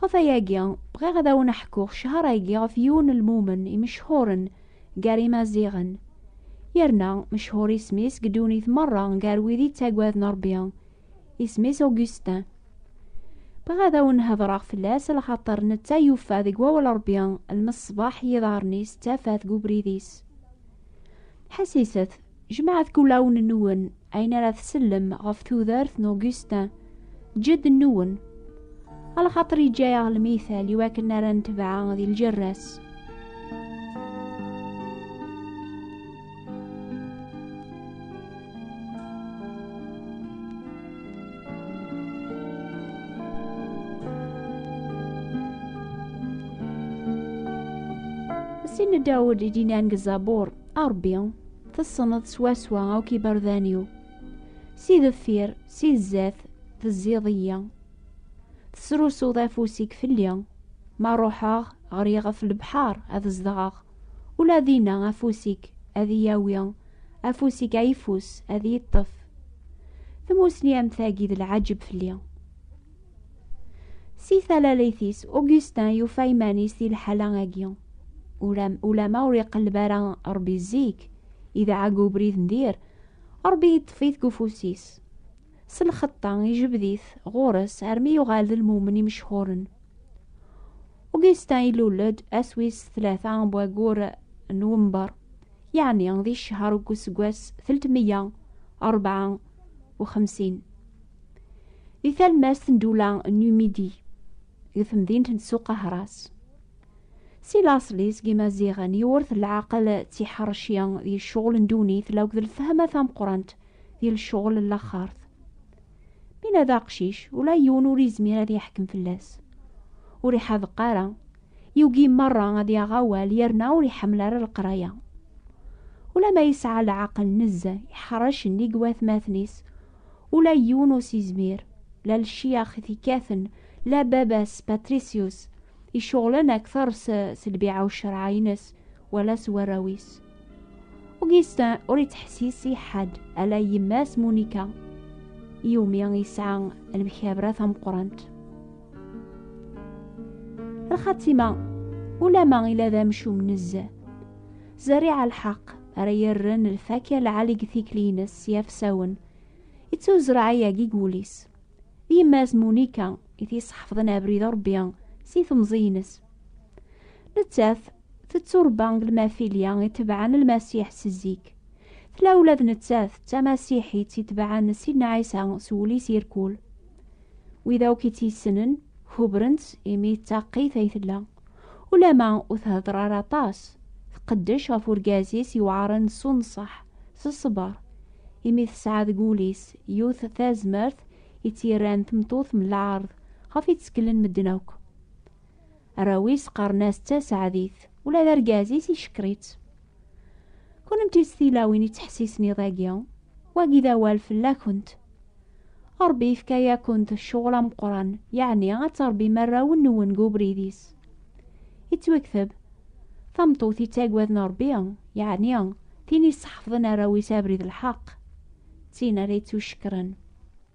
Ɣef ayagi, bɣiɣ ad awen aḥkuɣ ccehṛ-agi ɣef yiwen n lmumen imecḥuṛen gar imaziɣen, yerna mecḥuṛ isem-is deg ddunit meṛṛa gar wid ittagaden Ṛebbi, isem-is Augustin. Bɣiɣ ad awen hedṛeɣ fell-as lxaṭer netta yuffa deg wawal Ṛebbi lmeṣbaḥ n yiḍaṛṛen-is d tafat deg ubrid-is. Ḥasiset, jemɛet kulawen-nwen ayen ara tsellem ɣef tudert n Augustin, ǧedd-nwen. Alxaṭer yeǧǧa-yaɣ lmital i wakken ara netbeɛ di ljerra-s. Sin n Dawed i d-inan deg Zabur, a Ṛebbi, tessneḍ swaswa akk iberdan-iw. Si deffir, si zdat, tezziḍ-iyi. Tesrusuḍ afus-ik fell-i. Ma ruḥeɣ, ɣriɣ ɣef lebḥer ad zedɣeɣ. Ula dinna afus-ik ad iyi-awi afus-ik ayeffus ad yeṭṭef tmusni am tagi d lɛaǧeb fell-i si talalit-is Augustin yufa iman-is di lḥala agi ulama ur iqelleb ara rebbi zik idɛag ubrid n dir rebbi yeṭṭef-it deg ufus-is s lxeṭṭa ijbed-it ɣur-s armi yuɣal d lmumen imechhuren Augustin ilul-d ass wis tlata n waggur n Wember, yeɛni di ccher deg useggas teltmeyya rebɛa u xemsin. Di talmast n Dula Numidi, deg temdint n Tsuqahras. Si laṣel-is n Yimaziɣen yewwert leɛqel d tiḥerci di ccɣel n ddunit akked lefhama tameqqrant di lecɣel n laxert. Mina d aqcic, ula yiwen ur izmir ad yeḥkem fell-as. Ur iḥadeq ara, yugi merra ad yaɣ awal yerna ur iḥemmel ara leqraya. Ula ma yesɛa leɛqel nezzeh, iḥrec nnig watmaten-is, ula yiwen ur s-izmir, la lciyax i t-ikkaten, la baba-s Patricius, iceɣlen akteṛ s lbiɛa u cceṛɛa-ines, wala s warraw-is. Augustin ur yettḥessis i ḥedd ala yemma-s Monica iwumi yesɛa lemkabra tameqqrant. Lxatima ulama ila d amcum nezzeh. Zerriɛa lḥeq ara yerren lfakya lɛali deg tikli-ines s yafsawen ittuzreɛ ayagi deg wul-is. D yemma-s Monica i t-yesḥefḍen abrid urebbi si temẓi-ines. Nettat tetturebba deg lmafilya itebɛen lmasiḥ s zik. Tla ula d nettat d tamasiḥit itebɛen Sidna Ɛisa s wul-is irkul. Wid akk i tt-yessnen kubren-tt imi d taqqit ay tella. Ulama ur thedder ara aṭas, tqeddec ɣef urgaz-is yewɛren s unṣeḥ, s ṣṣber, imi tesɛa deg wul-is yiwet tazmert i tt-yerran tmeṭṭut n lɛerḍ ɣef i tteklen medden akk. Arraw-is qqaren-as d taseɛdit, ula d argaz-is icekker-itt. Kennemti s tilawin yettḥessisen iḍ-agi, wagi d awal fell-akent. Ṛebbi yefka-yakent ccɣel ameqqran, yeɛni ad tṛebbim arraw-nwen deg ubrid-is. Yettwekteb, Tameṭṭut yettagwaden Ṛebbi, yeɛni tin yesseḥfḍen arraw-is abrid n lḥeqq, d tin ara yettucekkren.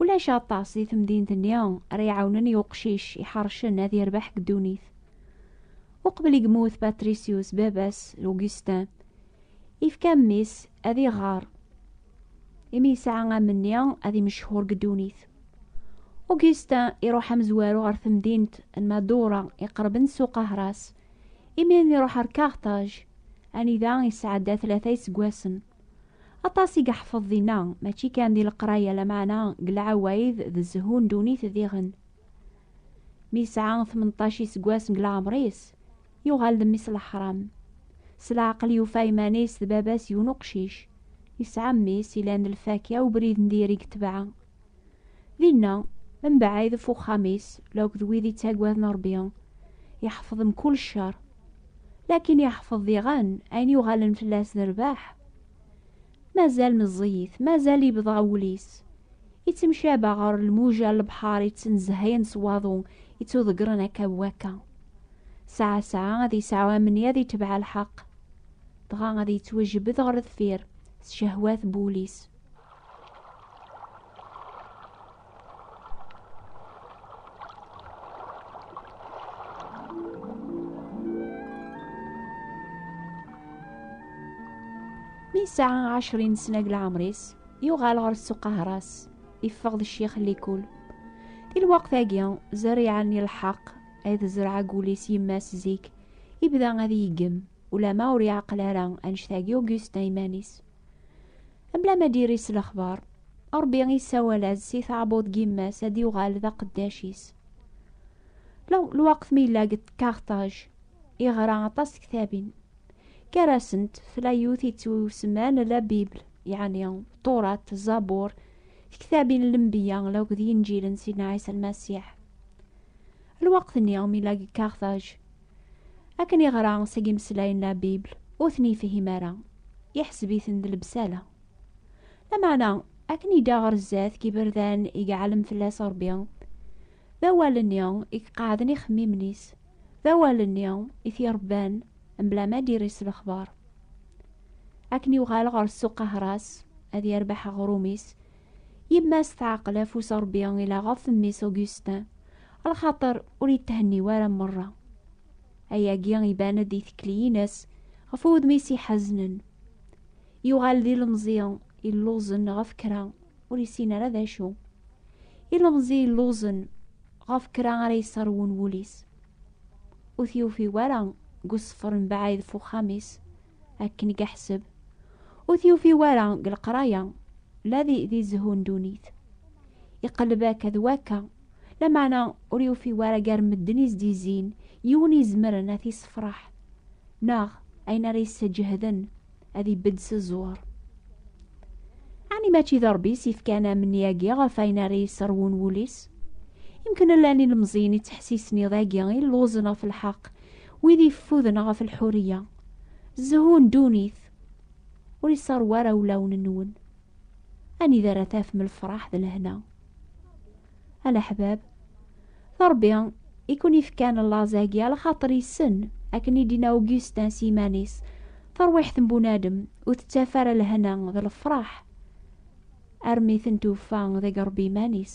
Ulac aṭas di temdint-nni ara iɛawnen i uqcic iḥercen ad yerbeḥ deg ddunit. Uqbel i yemmut Patricius, baba-s Augustin, yefka mmi-s ad iɣer, imi yesɛa amenni ad imechur deg ddunit. Augustin iruḥ amezwaru ɣer temdint n Madura iqerben s uqahras, imi iruḥ ar Carthage, anida yesɛedda tlata iseggasen. Aṭas i yeḥfeḍ dinna, mačči kan di leqraya lameɛna deg lɛawayed d zzhu n ddunit diɣen. Mi yesɛa tmenṭac iseggas deg leɛmer-is, yuɣal d mmi-s leḥram. S leɛqel yufa iman-is d baba-s yiwen uqcic, yesɛa mmi-s ilan d lfakya ubrid n diri deg tebɛa. Dinna, mebɛid ɣef uxxam-is la akked wid yettaggaden Ṛebbi, iḥfeḍ mkul ccer. Lakin iḥfeḍ diɣen ayen yuɣalen fell-as d rrbeḥ. Mazal meẓẓiyit, mazal yebḍa wul-is, ittemcaba ɣer lmuja n lebḥer yettnezhayen s waḍu ittuḍeggren akka d wakka. Sɛa sɛa ad yesɛu amni ad itebɛ lḥeqq, dɣa ad yettwajebbed ɣer deffir s cehwat n wul-is. mi sɛa ɛecrin n snag lɛemr-is yuɣal ɣer ssuq ahras iffeɣ d ccix n likul i lweqt-agi zerriɛa n lḥeq ay tezreɛ agul-is yemma-s zik ibda ad yeggem ulama ur yeɛqel ara annect-agi Augustin iman-is Mla ma diri s lexbar, Ṛebbi isawal-as si taɛbuḍ n yemma-s ad yuɣal d aqeddac-is. Lweqt mi yella deg Kartaj, yeɣra aṭas tektabin. Gar-asent, tla yiwet yettwasemman La Bible, yeɛni Turat, Zabur, tektabin n Lenbiya akked Yinǧilen Sidna Ɛisa Lmasiḥ. Lweqt-nni mi yella deg Kartaj, Akken iɣra seg imeslayen la Bibl, ur ten yefhim ara, iḥseb-iten d lebsala. Lameɛna, akken yedda ɣer zdat deg iberdan i iɛellem fell-as Ṛebbi, d awal-nni i iqeɛɛden ixemmimen-is, d awal-nni i t-iṛebban mebla ma d-irri s lexbaṛ. Akken yuɣal ɣer ssuq ahras, ad yerbeḥ aɣrum-is, Yemma-s teɛqel afus Ṛebbi ila ɣef mmi-s Augustin, lxaṭer ur yethenniw ara merra. Ayagi iban-d i tekliyin-as ɣef wudem-is iḥaznen. Yuɣal d ilemẓi illuẓen ɣef kra ur yessin ara d acu. Ilemẓi illuẓen ɣef kra ara yesserwun wul-is. Ur t-yufi wara deg useffer mebɛid f uxxam-is akken i yeḥseb ur t-yufi wara deg leqraya la di, di zzhu n dunit iqelleb akka d wakka lameɛna ur yufi wara gar medden izdizzin yiwen izemren ad t-issefraḥ neɣ ayen ara yessejehden ad ibedd s ẓẓur ɛni mačči d rebbi s yefkan amni-agi ɣef ayen ara yesserwun wul-is imken llan ilemẓiyen i ttḥessisen iḍ-agi i lluẓen ɣef lḥeq Wid yeffuden ɣef lḥuriya, zzhu n ddunit, ur iṣerref ara ulawen-nwen. Anida ara tafem lefṛaḥ d lehna? A leḥbab, d Ṛebbi i ken-ifkan laẓ-agi, ala xaṭer yessen, akken i d-yenna Augustin s yiman-is, tarwiḥt n bunadem ur tettaf ara lehna d lefṛaḥ armi ten-tufa deg Ṛebbi iman-is.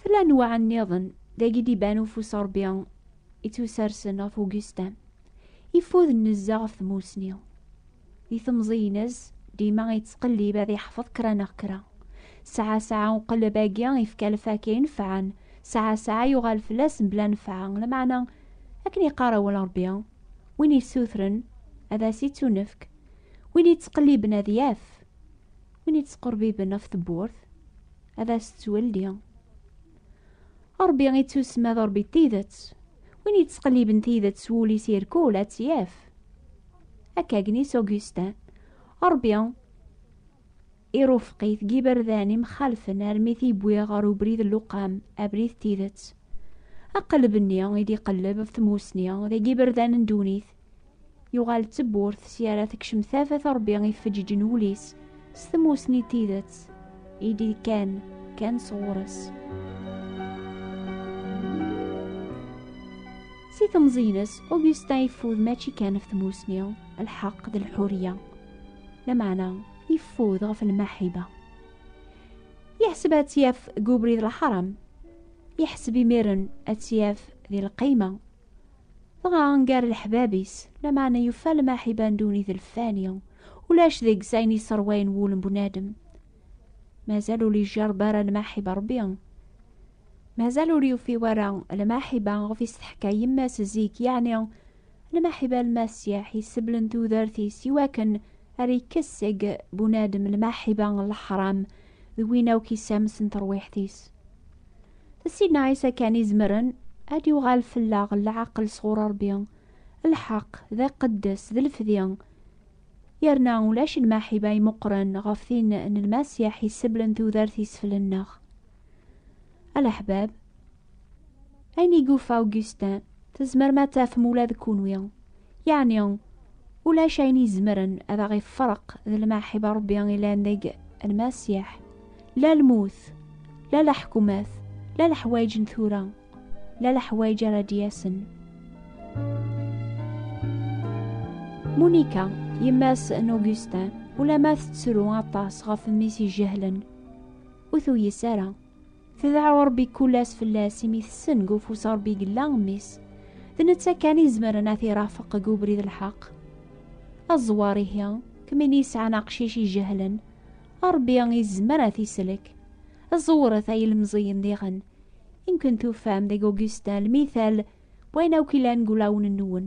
Tella anwaɛ nniḍen dagi d-iban ufus n Ṛebbi ittusersen ɣef Ugustin, ifud n nezzeh ɣef tmusni. Di temẓi-ines, dima yettqellib ad yeḥfeḍ kra neɣ kra. Saɛa saɛa uqelleb-agi ifka lfakya inefɛen, saɛa saɛa yuɣal fell-as mebla nnfeɛ, lameɛna akken yeqqar awal n Ṛebbi, win yessutren ad as-ittunefk, win yettqelliben ad yaf. win yettqerbiben ɣef tewwurt ad as-tettwelli. Ṛebbi ittusma d Ṛebbi tidet, win yettqelliben tidet s wul-is irkul ad tt-yaf. Akka gnis Augustin, Ṛebbi irufeq-it deg iberdan imxalfen armi t-yewwi ɣer ubrid n luqam, abrid tidet. Aqelleb-nni i d-iqelleb ɣef tmusni deg iberdan n ddunit, Yuɣal d tewwurt s yara tekcem tafat Rebbi ifeǧǧiǧen wul-is s tmusni n tidet i d-kan kan sɣur-s. Si temẓi-ines, Augustin yeffud mačči kan ɣef tmusni, lḥeqq d lḥuriya. Lameɛna yeffud ɣef lmaḥiba. Yeḥseb ad tt-yaf deg ubrid lḥaram. Yeḥseb imiren ad tt-yaf di lqayma. Dɣa gar leḥbab-is, lameɛna yufa lmaḥiba n ddunit lfani, ulac deg-s ayen yesserwayen wul n bunadem. Mazal ur yejjareb ara lmaḥiba n Rebbi. Mazal ur yufi wara lmaḥiba ɣef i s-teḥka yemma-s zik, yeɛni lmaḥiba n Lmasiḥ yesseblen tudert-is i wakken ar ikkes seg bunadem lmaḥiba n leḥram d win akk isams n terwiḥt-is. Sidna Ɛisa kan izemren ad yuɣal fell-aɣ leɛqel sɣur Ṛebbi, lḥeqq, d iqeddes, d lefdi. Yerna ulac lmaḥib ay meqqren ɣef tin n Lmasiḥ yesseblen tudert-is fell-nneɣ. A leḥbab, ayen i yufa Augustin, tzemrem ad tafem ula d kenwi. Yeɛni, ulac ayen izemren ad aɣ-ifreq d lmaḥiba Rebbi ilan deg Lmasiḥ. La lmut, la leḥkumat, la leḥwayeǧ n tura, la leḥwayeǧ ara d-yasen. Monika, yemma-s n Augustin, ulamma tettru aṭas ɣef mmi-s ijehlen, ur tuyes ara. Tedɛa Ṛebbi kul ass fell-as imi tessen deg ufus Ṛebbi gella mmi-s. D netta kan i izemren ad t-irafeq deg ubrid n lḥeq. Aẓewwaṛ ihi, kemmini ini yesɛan aqcic ijehlen, Ṛebbi izmer ad t-islek. Ẓewret ay ilemẓiyen diɣen, imken tufam deg Augustin lmital n wayen akk ilan deg ulawen-nwen.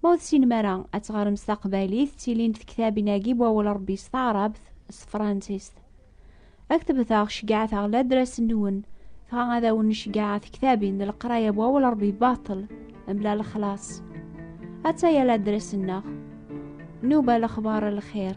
Ma ur tessinem ara ad teɣrem s taqbaylit, ttilin-d tektabin-agi n wawal Ṛebbi s taɛrabt, s tefransist. Ad k-tebteɣ ceggɛet-aɣ ladras-nwen, dɣa ad awen-ceggɛeɣ tektabin n leqraya n wawal Ṛebbi baṭel, mebla lexlaṣ. Atta-ya ladras-nneɣ. Nuba lexbar lxir.